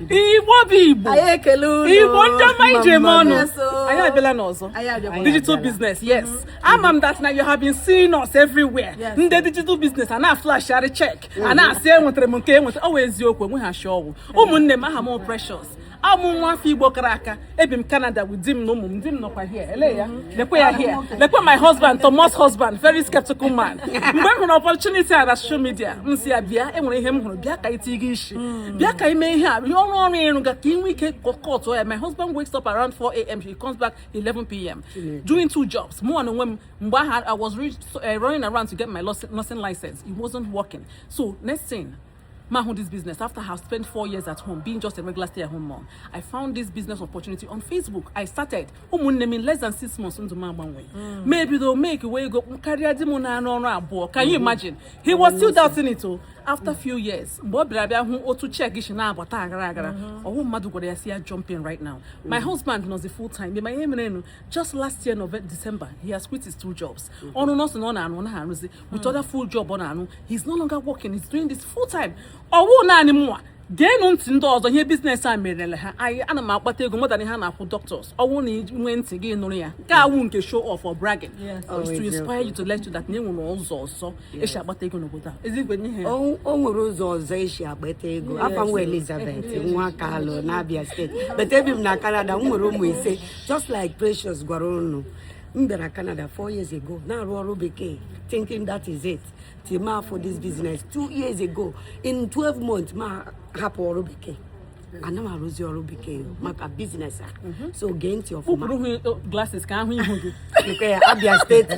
igbo bụ igbo anyị ekele unu igbo ndị ọma e ji eme ọnụ Yes, oh. anyị abịala n'ọzọ Anyị abịakwa. digital business yes ama m that na you have been seeing us everywhere Yes. ndị digital business a na-aflashari check a na-asị enwetara m nke enwetara ọ wụ eziokwu enweghị asị ọ wụ ụmụnne m aha m wụ Precious awụ m nwa afọ igbo kara aka ebi m Canada with di m na ụmụ m di m nọkwa here ele ya lekwe ya here lekwe my husband Thomas husband very skeptical man mgbe m hụrụ opportunity a na social media m sị ya bịa enwere ihe m hụrụ bịa ka iti gị isi bịa ka i mee ihe a ihe ọrụ ọrụ ịrụ ga ka ị nwee ike cut ya my husband wakes up around 4 a.m. he comes back 11 p.m. doing two jobs mụ na onwe m mgbe ahụ I was re- so, uh, running around to get my nursing license it wasn't working so next thing m ahụ this business after I have spent four years at home being just a regular stay at home mom I found this business opportunity on Facebook I started ụmụnne m in less than six months ndụ m agbanwe hmm. m ebido makewe ego karịa di m na-arụ ọrụ abụọ can you hmm. imagine he was still doubting it o oh. after few years mgbe ọ bịara bịa hụ otu check si na-abata aghara aghara hmm. ọ wụghị mmadụ gwara ya sị ya jump in right now my husband nọzi full time ma ihe merenụ just last year November December he has quit his two jobs ọrụ nọọsụ na ọ na-arụ na arụzi with other full job ọ na-arụ he's no longer working he's doing this full time ọ wụ naanị mụnwa geenụ ntị ndị ọzọ ihe business a merele ha anyị ana m akpata ego more than ihe a na-akwụ doctors ọ wụ na i nwee ntị gị nụrụ ya nke awụ nke show off or bragging oh, is to inspire you to let you that na enwere ụzọ ọzọ e si akpata ego n'obodo a ezigbo ihe o nwere ụzọ ọzọ e si akpata ego afa m wụ Elizabeth nwa Kalu na Abia State but ebi m na Canada m nwere ụmụ ise just like Precious gwara unu m bịara Canada four years ago na-arụ ọrụ bekee thinking that is it till m afụ this business two years ago in 12 months m ahapụ ọrụ bekee ana m arụzi ọrụ bekee maka business a mhm. so gee ntị ọfụma oh, glasses ka a hụ ihu gị nke ya Abia State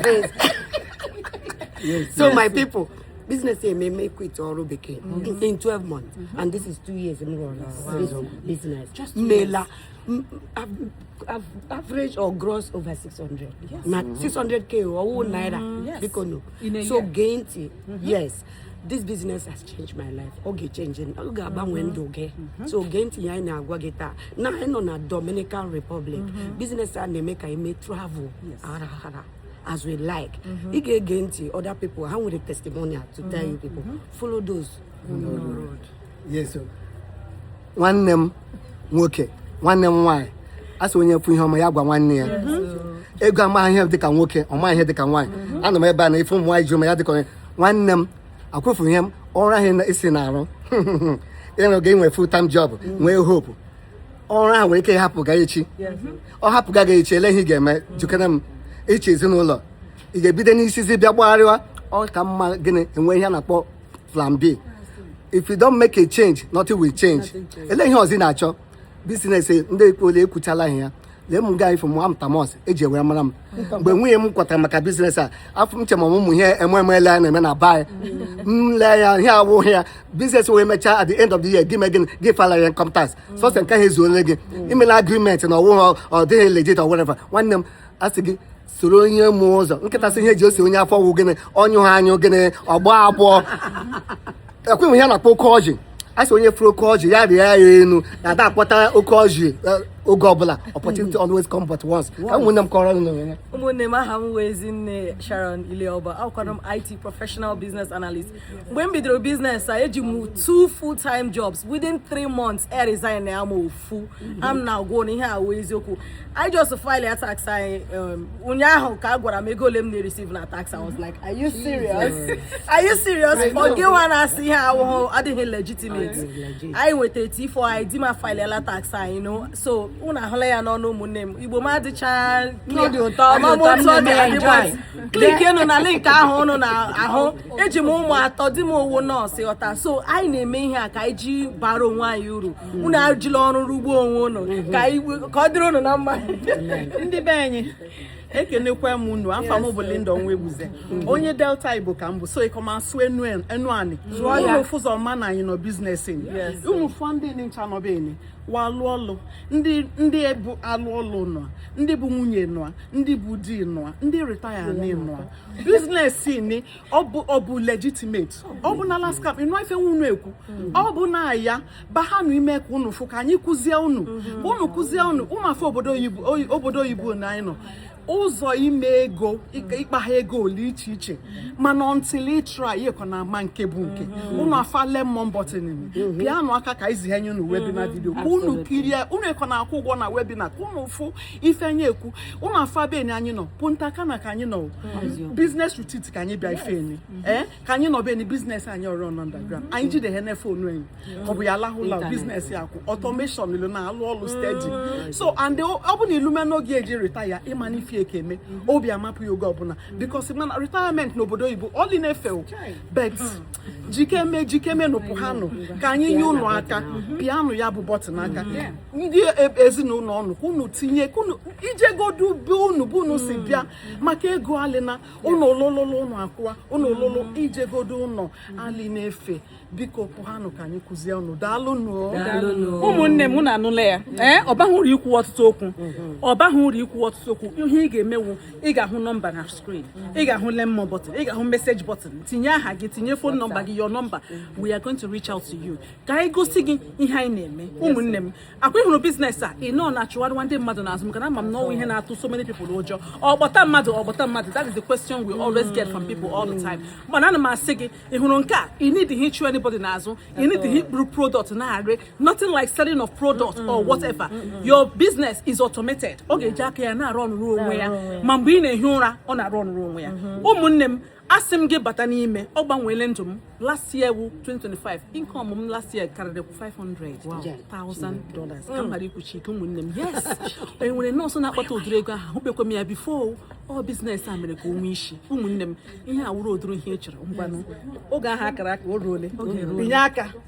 so my people business emee m quit ọrụ bekee mhm. in 12 months mhm. and this is two years m rụrụ business mela average or gross over 600 yes. na 600k mm-hmm. ọ wụghị mm-hmm. naira bikonụ so gee ntị mm-hmm. yes this business has changed my life ọ ga-echenji ọ ga-agbanwe ndụ gị so gee ntị ihe anyị na-agwa gị taa na anyị nọ na Dominican Republic business a na-eme ka anyị mee travel aghara aghara as we like ị ga-ege ntị other people ha nwere testimonial to tell you people follow those who know the road yes oh nwanne m nwoke nwanne m nwaanyị a sị onye fụ ihe ọma ya gwa nwanne ya ego amaghị ihe dịka nwoke ọ maghị ihe dịka nwaanyị ana m ebe a na ife ụmụ nwaanyị ji ụma ya dịka onye nwanne m akwụfụ ihe m ọrụ ahụ na- isi na-arụ ịrụ ga enwe full time job nwee hope ọrụ ahụ nwere ike ịhapụ gị echi ọ hapụ gị echi ele ihe ị ga-eme jikere m iche ezinụlọ ị ga-ebido n'isizi bịa gbagharịwa ọ ka mma gị inwe ihe a na-akpọ plan B if you don't make a change nothing will change ele ihe ọzọ ị na-achọ business ndị ekpole ekwuchala ihe ya lee m gaa ịfụ mụwa m Thomas e ji ewere mara m mgbe nwunye m kwatara maka business a afọ m chema ụmụ ihe ememele a na-eme na baị m lee ya ihe a wụghị ya business wee mechaa at the end of the year gị me gịnị gị file ya income tax sọsọ nke ha ezuole gị imela agreement na ọ wụghị ọ dịghị legit or whatever nwanne m asị gị soro onye ma ụzọ nkịta sị ihe o ji eso onye afọ wụ gịnị ọ nyụhụ anyụ gịnị ọ gbọọ agbọ ekweghị ihe a na-akpọ oke ọjị a sị onye fụrụ oke ọjị ya rịa ya enu na a da akpọta oke ọjị eh, oge ọbụla opportunity always come but once ka ụmụnne m kọrọ nụ ya ụmụnne m aha m wụ Ezinne Sharon Ileoba awụkwara m IT professional business analyst mgbe m bidoro business a eji m two full time jobs within three months eresignala m ofu fu a m na-agwa ụnụ ihe wụ eziokwu I just file ya tax anyị um, ụnyaahụ ka a gwara m ego ole m na-receive na tax I was like are you serious are you serious ọ gị nwa na-asị ihe ahụ adịghị legitimate anyị nwetara T4 anyị di ma filela tax you know so ụnụ ahụla ya n'ọnụ ụmụnne m Igbo m adịcha Ọ dị ụtọ, ọ dị ụtọ, amamụtụ ọ dị nne m adịgbo enjoy. clickienụ na link ahụ ụnụ na-ahụ eji m ụmụ atọ di m ọ wụ nurse ghọta so anyị na-eme ihe a ka anyị ji baara onwe anyị uru unu ejila ọrụ rụgbuo onwe unu ka ọ dịrị unu na mma ndị be anyị ekenekwa m unu afa m bụ Linda Onwegbuze mm. onye Delta Igbo ka m bụ so ekọ m asụ Enuani unu fụ ụzọ ma na anyị nọ business ụmụ afọ ndị ncha nọ be enyi wa alụ ọlụ ndị bụ alụ ọlụ nọ ndị bụ nwunye nọ ndị bụ di nọ ndị retire nọ business ni ọ bụ legitimate ọ bụ na scam ịnụ ife unu ekwu ọ bụ na ya bahanụ ime ka unu fụ ka anyị kụzie unu ka unu kụzie unu ụmụ afọ obodo oyibo na anyị nọ ụzọ ime ego ịkpagha ego ole iche iche mana until ị try ịkọ na ama nke bụ nke unu mm-hmm. afa lemon button mm-hmm. pịanụ aka ka e zihenye unu webinar video mm-hmm. ka unu kirie unu ekọ na-akwụ ụgwọ na webinar ka unu fụ ife anyị ekwu ụmụ afọ be enyi anyị nọ Punta Cana ka anyị nọ business retreat ka anyị bịa ife enyi ee eh? ka anyị nọ be ni business anyị ọrụ nọ underground anyị jide ha na phone enyi ọ bụ ya lahụla business ya kwụ automation ilu na-alụ ọlụ steady mm. so and ọ bụ na ị lume n'oge ị ji retire ịma na ife eke eme mm-hmm. obi amapụ ya oge ọbụla because mana retirement n'obodo oyibo ọ lị na-efe but mm. jikeme jikemenụ pụhanụ ka anyị nye ụnụ aka pịanụ ya bụ button aka ndị e, ezinụlọ unu ka unu tinye ka unu ijegodu be unu bụ unu si bịa maka ego alịna ụnụ olololo ụnụ akwụwa ụnụ ololo ijegodu ụnọ alị na-efe biko pụhanụ ka anyị kụzie ụnụ daalụ nụ ụmụnne m unu anụla ya ee ọ baghị uru ikwu ọtụtụ okwu ọ baghị uru ikwu ọtụtụ okwu ihe ị ga-eme wụ ị ga-ahụ nọmba na screen ị ga-ahụ lemon button ị ga-ahụ message button tinye aha gị tinye phone number gị your number we are going to reach out to you ka anyị gosi gị ihe anyị na-eme ụmụnne m akwa ị hụrụ business a ị nọ na-achụgharịwa ndị mmadụ n'azụ maka na ama m na ọ wụ ihe na-atụ so many people ụjọ ọ kpọta mmadụ ọ kpọta mmadụ that is the question we always get from people all the time mana ana m asị gị ị hụrụ nke a ị needighị ịchụ anybody n'azụ ị needighị iburu product na-arị nothing like selling of product mm -mm. or whatever mm -mm. your business is automated ọ ga-eji aka ya na-arọnụrụ onwe ya ma mgbe ị na-ehi ụra ọ na-arọnụrụ onwe ya mm-hmm. ụmụnne m asị m gị bata n'ime ọ gbanweele ndụ m last year wụ 2025 income m last year karịrị 500,000 dollars ka m ghara ikwuchi ike ụmụnne m yes e nwere nọọsụ na-akpata ụdịrị ego ahụ ahụbekwa m ya before ọ business a mere ka o nwee isi ụmụnne m ihe a wụrụ ụdịrị ihe ị chọrọ ngwanụ oge ahụ a kara aka o ruole binye aka